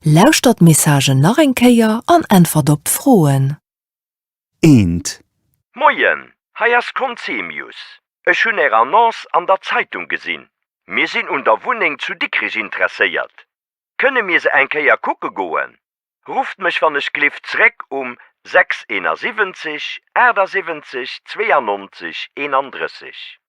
Lauschtert d'Messagen nach eng Kéier an äntwert op d'Froen. Eent. Moien, hei ass Conzemius. Ech hunn Är Annonce an der Zeitung gesinn. Mir sinn un der Wunneng zu Dikrich interesséiert. Kënne mir se eng Kéier kucke goen? Rufft mech wann ech gleeft zréck um 671 78 92 31.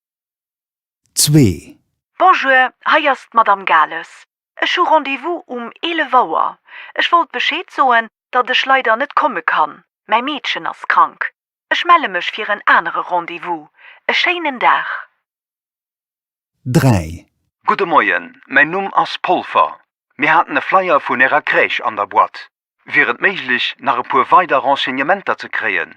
Zwee. Bonjour, hei ass d'Madame Gales. Ech hu Rendez-vous um 11 Auer. Ech wollt Bescheed soen, datt ech leider net komme kann, mäi Meedchen ass krank. Ech melle mech fir en anere Rendez-vous. E schéinen Dag. 3. Gudde Moien, mäin Numm ass Polfer. Mir haten e Flyer vun Ärer Crèche an der Boîte. Wier et méiglech, nach e puer weider Renseignementer ze kréien?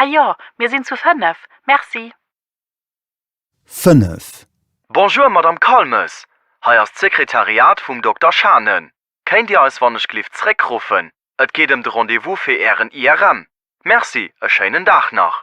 Ah jo, mir sinn zu fënnef. Merci. Fënnef. Bonjour Madame Calmes, hei ass d'Sekretariat vum Dokter Schane. Kéint Dir eis wannechgelift zréckruffen, et geet ëm de Rendez-vous fir Ären IRM. Merci, e schéinen Dag nach.